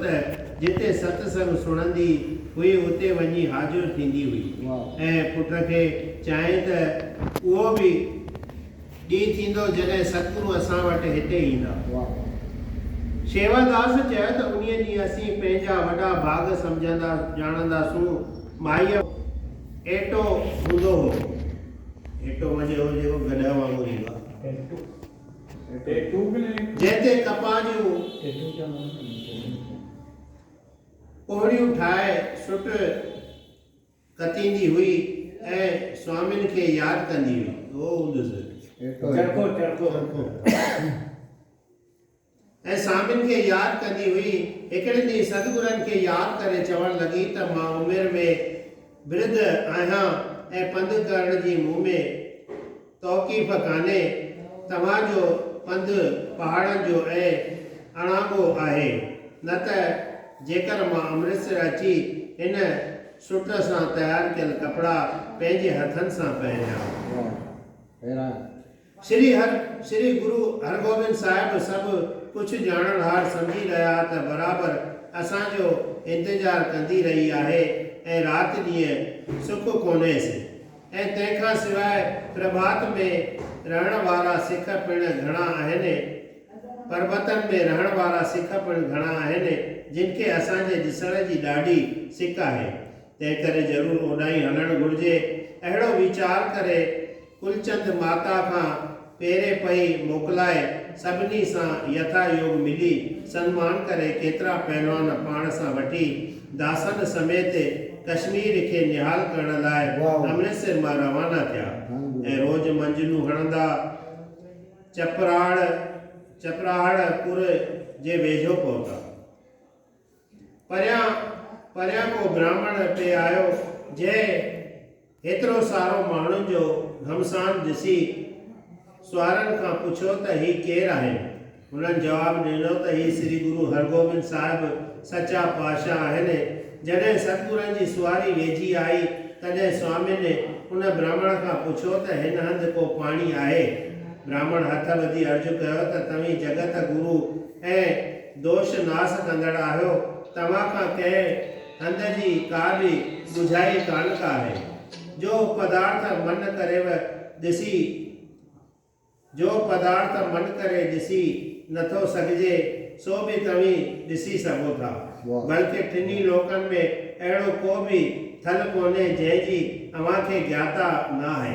ته جتي ست سنگ سڻندي هئي اتي وڃي حاضر ٿيندي هئي ۽ پٽ کي چيائين ته اهو به ڏينهن ٿيندو جڏهن ستگرو اسان وٽ هتي ايندا. شيواداس چيو ته انهيء ڏينهن اسين پنهنجا وڏا ڀاڳ سمجهندا ڄاڻنداسون. مائيء ايٽو هوندو هو. ايٽو معني اهو جيڪو گڏهه وانگر ايندو آهي. جنهن تي ڪپاهه جون پوڙهيون ٺاهي سٽ ڪتيندي هئي ۽ سوامين کي ياد ڪندي هئي. ۽ سامين کي ياد ڪندي هئي. هڪڙي ڏينهن سدگرن کي ياد ڪري چوڻ لڳي ته مان عمر ۾ برڌ آهيان ۽ پنڌ ڪرڻ جي مون ۾ توقيف ڪانهي. توهان جو پنڌ پهاڙن جو ۽ اڻانگو آهي. نه ته جيڪر مان امرتسر اچي هن سٽ سان تيار ڪيل ڪپڙا پنهنجي هٿن سان پهريان. شري هر شري گرو هرگوبند صاحب سڀ ڪڇ ڄاڻڻ هار سمجهي رهيا ته برابر اسان جو انتظار ڪندي رهي آهي ۽ رات ڏينهن سک ڪونهيس ۽ تنهن کان سواء پرڀات ۾ رهڻ وارا سک پڻ گهڻا آهن پربتن ۾ رهڻ وارا سک پڻ گهڻا آهن جن کي اسان جي ڏسڻ جي ڏاڍي سڪ آهي تنهنڪري ضرور اوڏانهن هلڻ گهرجي. اهڙو ويچار ڪري ڪلچند ماتا کان پيري پئي موڪلائي سڀني سان يٿا يوگ ملي سنمان ڪري ڪيترا پهلوان پاڻ سان وٺي داسن سميت ڪشمير کي نهال ڪرڻ لاء امرتسر مان روانا ٿيا ۽ روز منجلون هڻندا چپراهڙ چپراهڙ پور جي ويجهو پهتا. پريان پريان ڪو براهمڻ پئي آيو، جنهن هيترو سارو ماڻهن جو گهمسان ڏسي سوارن کان پڇيو ته هي ڪير آهن؟ هنن جواب ڏنو ته هي سري گرو هرگوبند صاحب سچا پاشا آهن. جڏهن ستگرن جي سواري ويجهي آئي، تڏهن سوامين ان براهمڻ کان پڇيو ته هن هنڌ ڪو پاڻي آهي؟ براهمڻ هٿ ٻڌي عرض ڪيو ته توهين جڳت گرو ۽ دوش ناس ڪندڙ آهيو توهان کان ڪنهن هنڌ جي ڪا به ڳجهائي ڪانه ڪاهي جو پدارٿ من ڪريو ڏسي جو پدارٿ من ڪري ڏسي نٿو سگهجي سو به توهين ڏسي سگهو ٿا بلڪه ٽنهي لوڪن ۾ اهڙو ڪو به ٿل ڪونهي جنهن جي اوهان کي گياتا ناهي.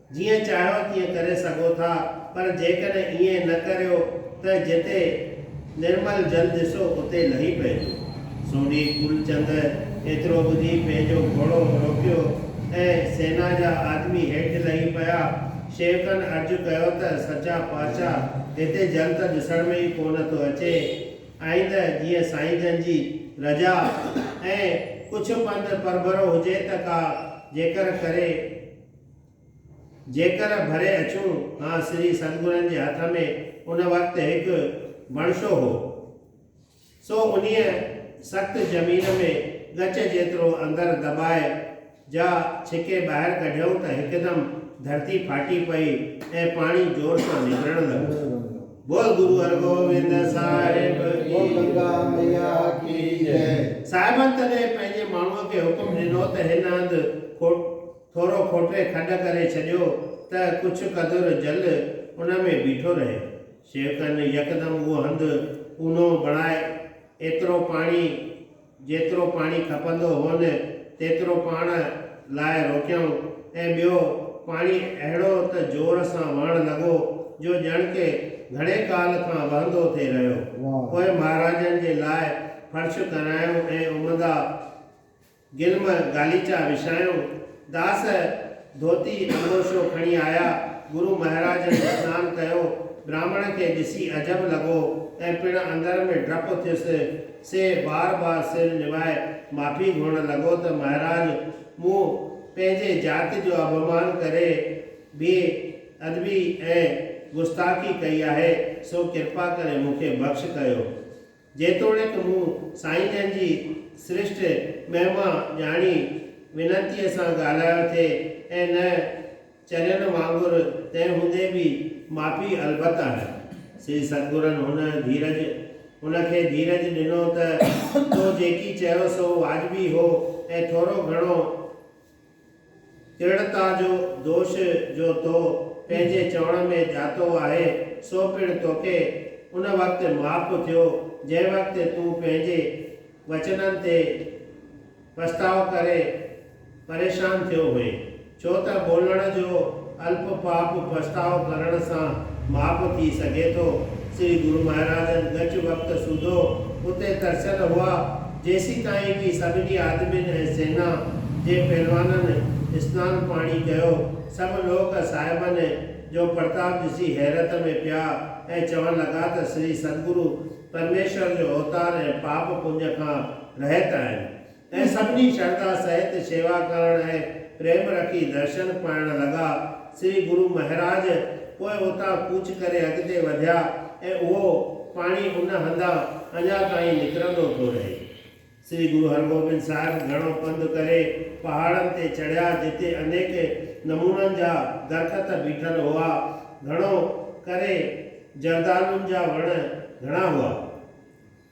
جيئن چاهيو تيئن ڪري سگهو ٿا پر جيڪڏهن ائين نه ڪريو ته جتي نرمل جل ڏسو اتي لهي پئجو. سوڍي ڪولچند ايترو ٻڌي پنهنجو گهوڙو روڪيو ۽ سينا جا آدمي هيٺ لهي پيا. شيوڪن عرض ڪيو ته سچا پاچا هتي جل ته ڏسڻ ۾ ئي ڪونه ٿو اچي. آئنده جيئن سائين جن جي رضا ۽ ڪڇ پنڌ پرڀرو هجي ته ڪا جيڪر ڪري جيڪر ڀري اچون ها سري سدگرن جي هٿ ۾ ان وقت هڪ بڻشو هو، سو انهيء سخت زمين ۾ ڳچ جيترو اندر دٻائي جا ڇڪي ٻاهر ڪڍيائون ته هڪدم ڌرتي ڦاٽي پئي ۽ پاڻي زور سان نڪرڻ لڳو. بول گرو هرگوبند صاحب جي بول گنگا مئيا ڪي جئي. صاحبن تڏهن پنهنجي ماڻهوء کي حڪم ڏنو ته هن هنڌ کوٽ. ٿورو کوٽري کڏ ڪري ڇڏيو ته ڪجهه قدر جل ان ۾ بيٺو رهي. شيوڪن يڪدم اهو هنڌ اونهو بڻائي ايترو پاڻي جيترو پاڻي کپندو هون تيترو پاڻ لاء روڪيائون ۽ ٻيو پاڻي اهڙو ته زور سان وهڻ لڳو جو ڄڻ ڪي گهڻي ڪال کان وهندو ٿي رهيو. پوء مهاراجن جي لاء فرش ڪرايائون ۽ امدا گلم غاليچا وڇايائون. داس ڌوتي انبوشو کڻي آيا. گرو مهاراجن اسنان ڪيو. براهمڻ کي ڏسي عجب لڳو ۽ پڻ اندر ۾ ڊپ ٿيس. سي بار بار سر نوائي معافي گهرڻ لڳو ته مهاراج مون پنهنجي ذات جو اڀمان ڪري بي ادبي ۽ گستاخي ڪئي آهي، سو ڪرپا ڪري مون کي بخش ڪيو. جيتوڻيڪ مون سائين جن جي سرشٽ مهما ڄاڻي وينتيء سان ڳالهايو ٿي ۽ نه چرين وانگر، تنهن هوندي به معافي البت آهي. سري ستگرن هن ڌيرج، هن کي ڌيرج ڏنو ته تو جيڪي چيو سو واجبي هو ۽ ٿورو گهڻو درڙتا جو دوش جو تو پنهنجي چوڻ ۾ جاتو آهي، سو پڻ توکي ان وقت معاف ٿيو، جنهن وقت تون پنهنجي وچنن تي پڇتاء ڪري پريشان ٿيو هئين، ڇو ته ٻولڻ جو الپ پاپ پڇتاء ڪرڻ سان ماپ ٿي سگهي ٿو. سري گرو مهاراجن ڳچ وقت سوڌو اتي ترسيل هئا، جيسيتائين ڪي سڀني آدمين ۽ سينا جي پهلوانن اسنان پاڻي ڪيو. سڀ لوڪ صاحبن جو پرتاپ ڏسي حيرت ۾ پيا ۽ چوڻ لڳا ته سري سدگرو پرميشور جو اوتار ۽ پاپ پڃ کان رهت آهن. ۽ سڀني شرڌا سهت شيوا ڪرڻ ۽ پريم رکي درشن پائڻ لڳا. سري گرو مهراج پوء اتان ڪوچ ڪري اڳتي وڌيا ۽ اهو پاڻي ان هنڌان اڃا تائين نڪرندو ٿو رهي. سري گرو هرگوبند صاحب گهڻو پنڌ ڪري پهاڙن تي چڙهيا جتي انيڪ نمونن جا درخت بيٺل هئا. گهڻو ڪري جردالن جا وڻ گهڻا هئا.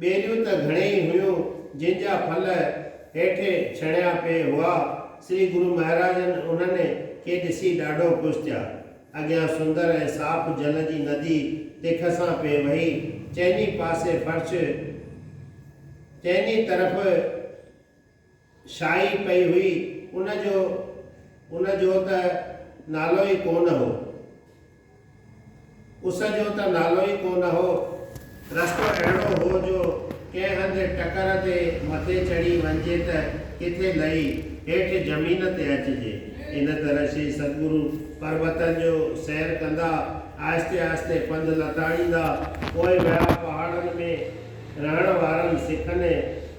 ٻيريون ته گهڻي ئي هيون، جن جا ڦل هيٺ ڇڻيا پئي هئا. سري گرو مهاراجن انهن کي ڏسي ڏاڍو خوش ٿيا. اڳيان سندر ۽ صاف جل جي ندي تک سان پئي وهي. چئني پاسي فرش، چئني طرف. شاهي پئي هئي، ان جو ان جو ته نالو ئي ڪونه هو. اس جو ته نالو ئي ڪونه هو. رستو اهڙو هو جو ڪنهن هنڌ ٽڪر تي مٿي چڙهي وڃجي ته ڪٿي لهي هيٺ زمين تي اچجي. ان طرح شري ستگرو پربتن جو سير ڪندا آهستي آهستي پنڌ لتاڙيندا پوء ويا پهاڙن ۾ رهڻ وارن سکن ۽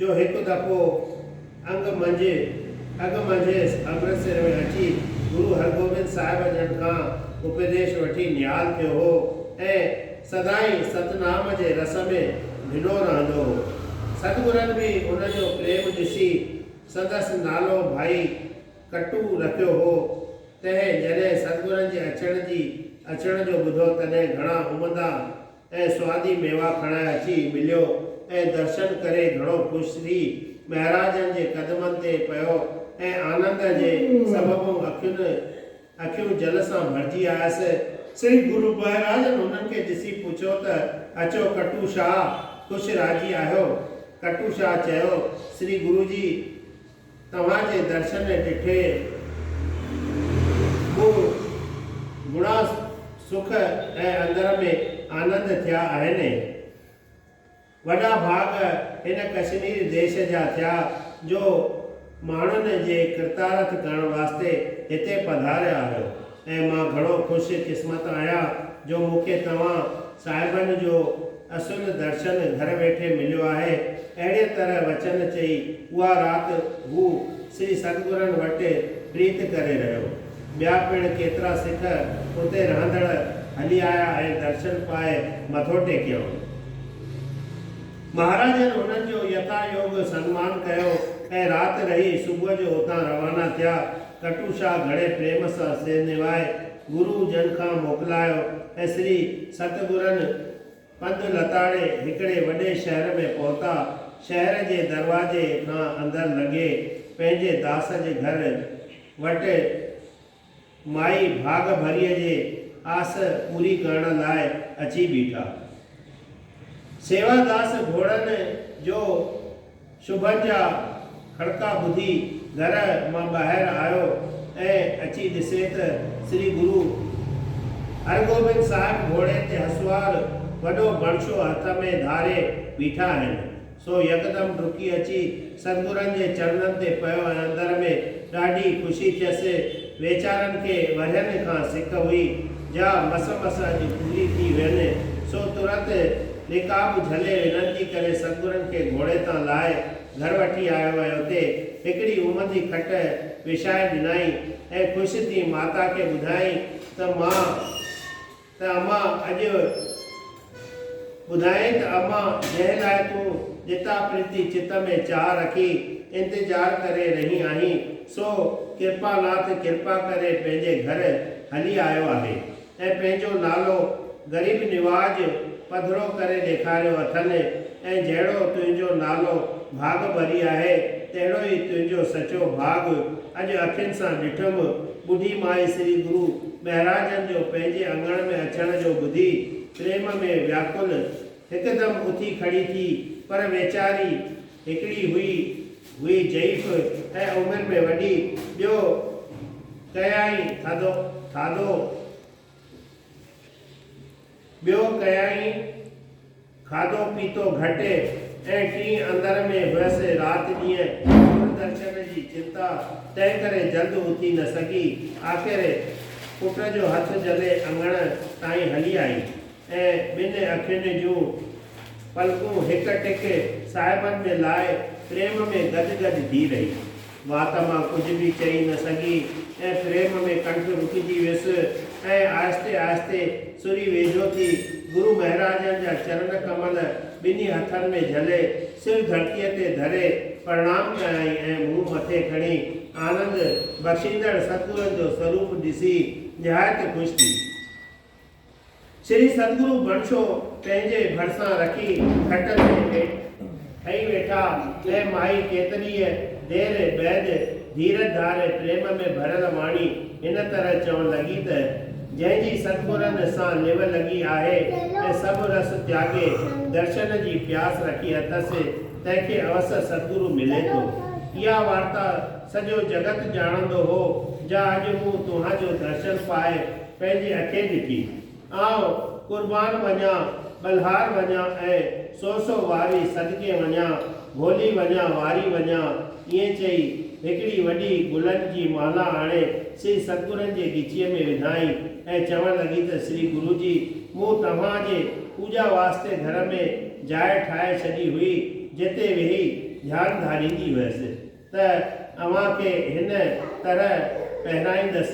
جو هڪ دفعو انگ منجهه اڳ منجهس امرتسر ۾ اچي گرو هرگوبند صاحب جن کان اپديش وٺي نهال ٿيو هو ۽ سدائين ستنام جي رس ۾ ڀنو رهندو هو. ستگرن به ان جو پريم ڏسي سندس نالو ڀائي ڪٽو رکيو هو. تنهن جڏهن ستگرن جي اچڻ جي اچڻ جو ٻڌو تڏهن گهڻا امندا ۽ سوادي ميوا کڻائي اچي مليو ۽ درشن ڪري گهڻو خوش ٿي مهراجن جي قدمن تي پيو ۽ آنند جي سببون اکين اکيون جل سان ڀرجي آيس. سري گرو مهراجن هنن کي ڏسي پڇيو ته اچو ڪٽو شاهه خوش راضي آهيو؟ ڪٽو شاهه چيو سري گرو جي! توهان جي درشن ڏٺي، مون گهڻا سک ۽ اندر ۾ آنند ٿيا آهن. وڏا ڀاڳ هن ڪشمير ديش جا ٿيا جو ماڻهن جي ڪرتارٿ ڪرڻ واسطي هتي پڌاريا آهيو. ۽ مان گهڻو خوش قسمت آهيان جو مون کي توهان صاحبن جو اصل درشن گهر ويٺي مليو آهي. اهڙيء طرح وچن چئي اها رات هو سري ستگرن وٽ پريت ڪري رهيو. ٻيا پڻ ڪيترا سک اتي رهندڙ هلي آيا ۽ درشن پائي مٿو ٽيڪيائون. مهاراجن انهن جو يٿايوگ سنمان ڪيو ۽ رات رهي صبح جو اتان روانا ٿيا. کٽو شاهه گهڻي پريم سان سير نوائي گرو جن کان موڪلايو ۽ سري ست گرن پنڌ لتاڙي هڪڙي وڏي شهر ۾ پهتا. شهر جي دروازي کان اندر لنگهي پنهنجي داس جي گهر وٽ مائي ڀاڳ ڀريء جي آس پوري ڪرڻ لاء اچي بيٺا. سيوا داس گهوڙن جو شوڀن جا کڙڪا ٻڌي گهر مان ٻاهر آيو ۽ اچي ڏسي ته سري گرو هرگوبند صاحب گهوڙي تي هسوار وڏو بڻشو هٿ ۾ ڌاري بيٺا آهن. سو يڪدم ڊڪي اچي ستگرن جي چرنن تي پيو ۽ اندر ۾ ڏاڍي خوشي ٿيس. ويچارن کي ورهين کان سڪ هئي، جا مس مس اڄ پوري ٿي وين، سو ترت رڪاب جهلي وينتي ڪري ستگرن کي گهوڙي تان لاهي گهر وٺي آيو ۽ اتي هڪڙي امدي کٽ وڇائي ڏنائين ۽ خوش ٿي ماتا کي ٻڌايائين ته مان ته امان اڄ ٻڌائين ته امان جنهن لاء تون ڏتا پريتي چت ۾ چاهه رکي انتظار ڪري رهي آهين سو ڪرپا ناٿ ڪرپا ڪري پنهنجي گهر هلي آيو آهي ۽ پنهنجو نالو غريب نواز پڌرو ڪري ڏيکاريو اٿن ۽ جهڙو تنهنجو نالو ڀاڳ ڀري آهي تهڙو ئي تنهنجو سچو ڀاڳ اڄ اکين سان ڏٺم ٻڍي مائي سري گرو مهراجن جو پنهنجي اڱڻ ۾ اچڻ جو ٻڌي پريم ۾ وياڪل هڪدم اٿي کڙي ٿي پر ويچاري هڪڙي هئي هئي ضعيف ۽ عمر ۾ وڏي ٻيو ڪيائين ٿڌو ٿاڌو ٻيو ڪيائين کاڌو پيتو گهٽي ۽ ٽين اندر ۾ هئس رات ڏينهن دوردرشن جي چنتا تنهن ڪري جلد اٿي نه سگهي آخر پٽ جو هٿ جهلي اڱڻ تائين هلي آئي ۽ ٻن اکين جون پلڪون هڪ ٽڪ صاحبن ۾ لائي پريم ۾ گڏ گڏ ڌي رهي. وات مان ڪجهه به چئي نه سگهي ۽ پريم ۾ ڪنٺ رڪجي ويس ۽ آهستي آهستي سري ويجهو ٿي گرو مهراجن جا چرن ڪمل ٻنهي هٿن ۾ جهلي سر ڌرتيء تي ڌري پرڻام ڪيائين ۽ منهن مٿي کڻي آنند بخشيندڙ ستگرن جو سروپ ڏسي نهايت خوش ٿي. شري ستگرو بڻڇو پنهنجي ڀرسان رکي کٽ تي ٺهي ويٺا ۽ مائي ڪيتريء دير بعد ڌيرج ڌار پريم ۾ ڀريل واڻي هن طرح چوڻ لڳي ته، جنهن جي ستگرن سان نوهه لڳي آهي ۽ سڀ رس تياڳي درشن جي پياس رکي اٿس، تنهن کي اوسر ستگرو ملي ٿو. اها وارتا سڄو جڳت ڄاڻندو هو، جا اڄ مون توهان جو درشن پائي پنهنجي اکين ڏٺي. آئون قربان وڃان، ٻلهار وڃان ۽ سو سو واري صدقي وڃان، ڀولي وڃان، واري وڃان. ائين چئي هڪڙي وڏي گلن جي مالا آڻي سري ستگرن جي ڳچيء ۾ وڌائين ۽ چوڻ لڳي ته سري گرو جي مون توهان جي پوڄا واسطي گهر ۾ جاء ٺاهي ڇڏي هئي جتي ويهي ڌيان ڌاريندي هيس. ته اوهان کي هن طرح پهرائيندس،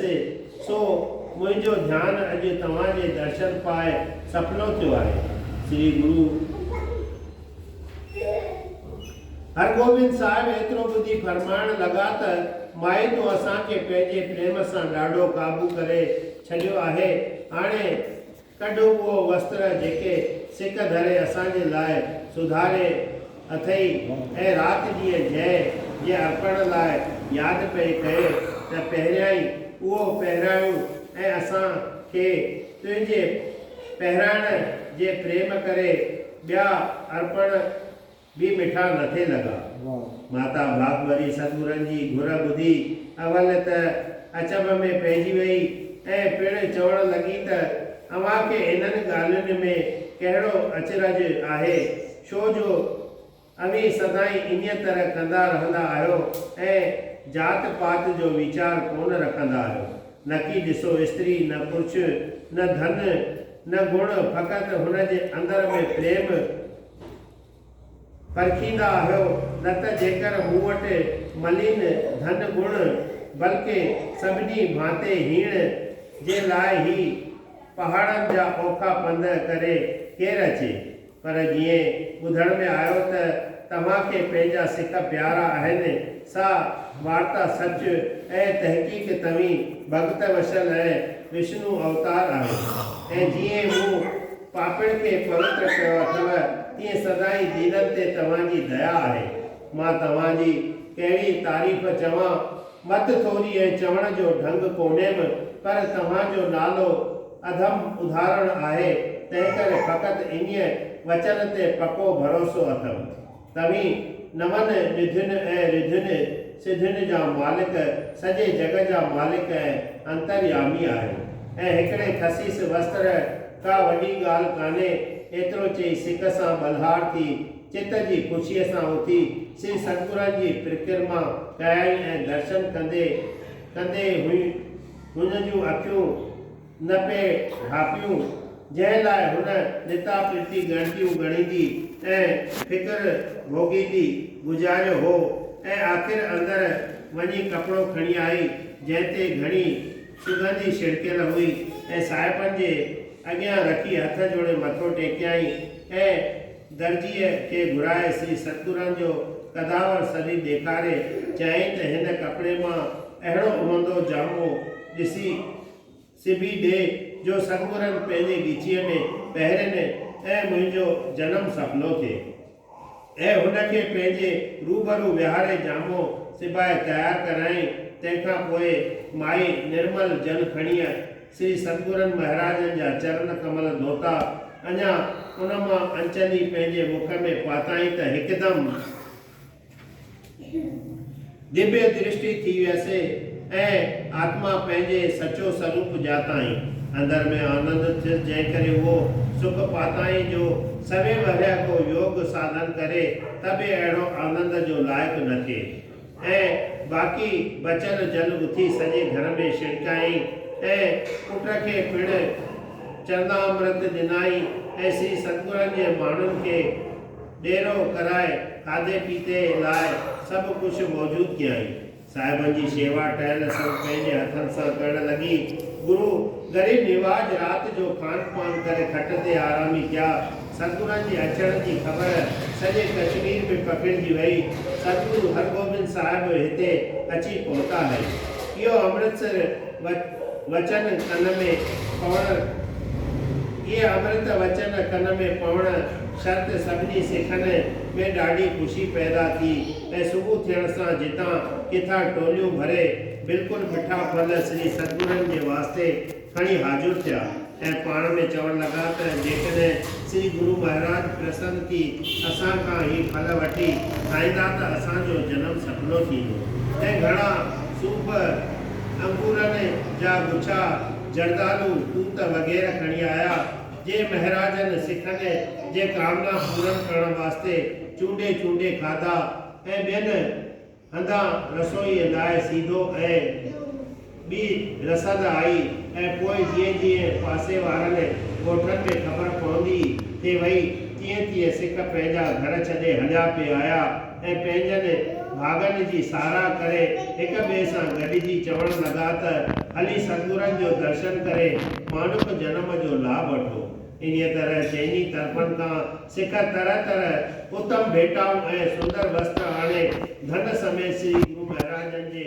سو منهنجو ڌيان اڄ توهان جي درشن پاء سڦلو ٿيو آهي. شري گرو هرگوبند صاحب ايترو ٻڌي فرمائڻ لڳا ته مائي تو اسان کي پنهنجي پريم سان ڏاڍو قابو ڪري ڇڏيو آهي، هاڻي. ڪڍ اهو وستر جيڪي سڪ ڌري اسان جي لاء سڌاري اٿئي ۽ رات جيء جنهن جي ارپڻ لاء ياد پئي ڪئي ته پهريائين اهو پهرايون ۽ اسان کي تنهنجي پهرائڻ جي پريم ڪري ٻيا ارپڻ به مٺا نه ٿي لڳا. ماتا ڀاڳڀري سدگرن جي گهر ٻڌي اول ته اچنڀ ۾ پئجي وئي ۽ پڻ چوڻ لڳي ته اوهان کي انهن ڳالهين ۾ ڪهڙو اچرج آهي، ڇو جو اوهين سدائين انهيء طرح ڪندا رهندا آهيو ۽ ذات پات جو ويچار ڪونه رکندا آهيو. نڪي ڏسو استري نه پرڇ، نه ڌن، نه گڻ، فقط هن جي اندر ۾ پريم، پرکيندا آهيو نه ته جيڪر مون وٽ ملين ڌن گڻ بلڪه سڀني ڀانتي هيڻ جي لاء هي پهاڙن جا اوکا پنڌ ڪري ڪير اچي پر جيئن ٻڌڻ ۾ آيو ته توهان کي پنهنجا سک پيارا آهن سا وارتا سچ ۽ تحقيق توهين ڀڳت وشل ۽ وشنو اوتار آهيو ۽ جيئن مون پاپين کي پوتر ڪيو اٿو، تيئن سدائين دينن تي توهان جي ديا آهي. مان توهان جي ڪهڙي تعريف چوان، مت ٿوري ۽ چوڻ جو ڍنگ ڪونهيم، پر توهان جو نالو اڌم اڌارڻ آهي، تنهنڪري فقط انهيء وچن تي پڪو ڀروسو اٿم. توهين نون نڌين ۽ رڌين سڌين جا مالڪ، سڄي جڳ جا مالڪ ۽ انتريامي آهيو. ۽ هڪڙي خسيس وستر ڪا وڏي ڳالهه ڪانهي. ايترو چئي سڪ سان ٻلهار ٿي، چت جي خوشيء سان اٿي، سري ستگرن جي پرڪرما ڪيائين ۽ درشن ڪندي ڪندي هن جون اکيون، نه پئي ڍاپيون، جنهن لاء هن ڏتا پرتي ڳڻتيون ڳڻيندي ۽ فڪر ڀوڳيندي گذاريو هو ۽ آخر اندر وڃي ڪپڙو کڻي آئي، جنهن تي گهڻي سگنڌي ڇڙڪيل هئي ۽ صاحبن جي اڳيان رکي هٿ جوڙي مٿو ٽيڪيائين ۽ درزيء کي گهرائي سري ستگرن جو قداور سري ڏيکاري چيائين ته هن ڪپڙي مان اهڙو عمدو جامو ڏسي سبي ڏي جو ستپورن پنهنجي ڳچيء ۾ پهرين ۽ منهنجو جنم سڦلو ٿئي ۽ هن کي پنهنجي روبرو ويهاري جامو سبائي تيار ڪرايائين تنهن کان پوء مائي نرمل جل کڻيء سري ستپورن مهراجن جا چرن ڪمل ڌوتا اڃا ان مان انچني پنهنجي مک ۾ پاتائين ته هڪدم ديبيه درشٽي ٿي ويس ۽ آتما پنهنجي سچو سروپ ڄاتائين. اندر ۾ آنند ٿيس جنهن ڪري اهو سک پاتائين جو سوين ورهيه ڪو يوگ ساڌن ڪري ته به اهڙو آنند جو لائق نه ٿئي. ۽ باقي بچيل جل اٿي سڄي گهر ۾ ڇڻڪيائين ۽ پٽ کي پڻ چرنامرت ڏنائين ۽ سري ستگرن جي ماڻهن کي ڏيرو ڪرائي کاڌي پيتي لاء سڀ ڪجهه موجود ڪيائين. صاحبن جي شيوا ٽهل سڀ پنهنجي هٿن سان ڪرڻ لڳي. گرو غريب نواز رات جو کان پان ڪري کٽ تي آرامي ڪيا. سدگرن جي اچڻ جي خبر سڄي ڪشمير ۾ پکڙجي وئي. سدگرو هرگوبند صاحب هتي اچي پهتا هي. اهو امرتسر وچن ڪن ۾ پوڻ اهي امرت وچن ڪن ۾ پوڻ شھر تي سڀني سکن ۾ ڏاڍي خوشي پيدا ٿي ۽ صبح ٿيڻ سان جتان ڪٿان ٽوليون ڀري بلڪل مٺا ڦل سري سدگرن جي واسطي کڻي حاضر ٿيا ۽ پاڻ ۾ چوڻ لڳا ته جيڪڏھن سري گرو مھاراج پرسن ٿي اسان کان ھي ڦل وٺي کائيندا ته اسان جو جنم سڦلو ٿيندو ۽ گھڻا صوف انگورن جا گڇا جردالو توت وغيره کڻي آيا. جي مهراجن سکن جي ڪامنا پورن ڪرڻ واسطي چونڊي چونڊي کاڌا ۽ ٻين هنڌان رسوئيء لاء سيڌو ۽ ٻي رسد آئي ۽ پوء جيئن جيئن پاسي وارن ڳوٺن ۾ خبر پوندي ٿي وئي تيئن تيئن سک پنهنجا گهر ڇڏي هليا پي آيا. ۽ پنهنجن ڀاڳن جي ساراهه ڪري هڪ ٻئي سان گڏجي چوڻ لڳا ته هلي سدگرن جو درشن ڪري مانوڪ جنم جو لاڀ وٺو. انهيء طرح چئني طرفن کان سک طرح طرح اتم ڀيٽائون ۽ سندر وستر آڻي ڌن سميت سري گرو مهراجن جي